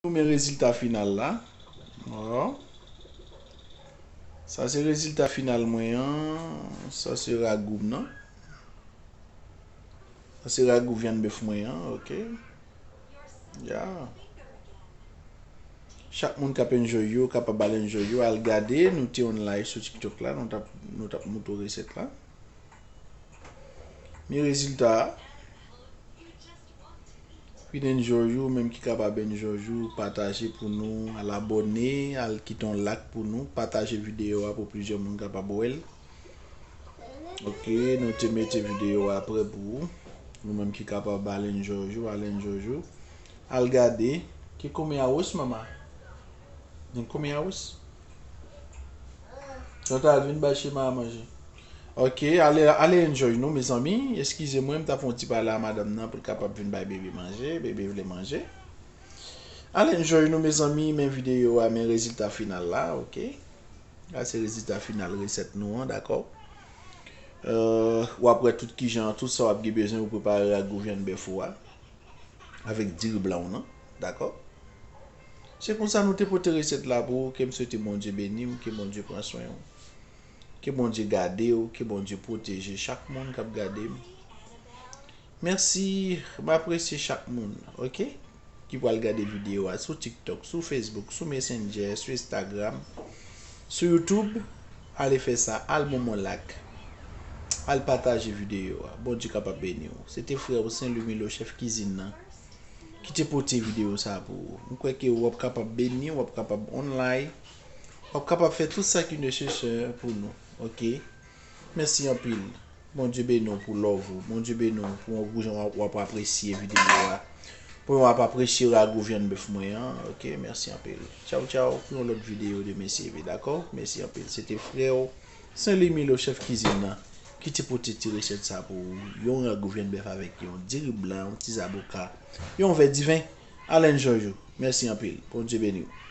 Nou men rezilta final la. Waaw. Sa se rezilta final mwen an. Sa se ragou m nan. Sa se ragou vyann bèf mwen an. Ok. Ya. Chak moun k ap enjoy yo, kapab al enjoy yo, al gade. Nou te on live sou TikTok la. Nou t ap, nou t ap moutre w resèt la. Men rezilta a. Pinen jòj ou menm ki ka pa ben jòj ou pataje pou nou al abòne al kite yon lak pou nou pataje videyo a pou plizyè moun kapab wèl ok nou te mete videyo a prè pou ou nou menm ki ka pa balen jòj ou alen jòj ou al gade ki koumen a wos mama gen koumen a wos Chantal vin bay chema a manje Ok ale ale enjoy nou mezanmi eskize mwen m tap fè yon ti pale a madanm nan pou l kapab vin bay bebe manje bebe vle manje ale enjoy nou mezanmi men videyo a men rezilta final la ok sa se rezilta final resèt nou an dakò wap wè tout kijan tout sa wap gen bezwen pou prepare ak gou vyann bèf ou a avèk diri blan w nan dakò se konsa nou te pote resèt la pou ou ke m swete Bondye beni w ke Bondye pran swen w. Ke Bondye gade ou, ke Bondye pwoteje chak moun kap gade m. Mèsi, m apresye chak moun ok ki pral gade videyo a sou tiktok, sou facebook, sou messenger, sou instagram, sou youtube ale fè sa al bon mwen lak al pataje videyo a Bondye kapab beni ou. Se te frè ou Sen Lumelo chèf kizin nan ki te pote videyo sa pou ou. M kwè ke ou ap kapab beni, ou ap kapab online. Wap kapab fè tout sa ki nesesè pou nou ok mèsi anpil Bondye beni w pou love ou Bondye beni w pou yon gou jan wap apresye video a pou yon wap apresye rago vyann bèf mwen an ok mèsi anpil tchaw tchaw pou yon lòt video de mesye ve dakò mèsi anpil se te frè w Senly Milo chèf kizin nan ki te pote ti resèt sa pou ou yon rago vyann bèf avèk yon diri blan yon ti zaboka yon vè diven Alain Jojo mèsi anpil Bondye beni w.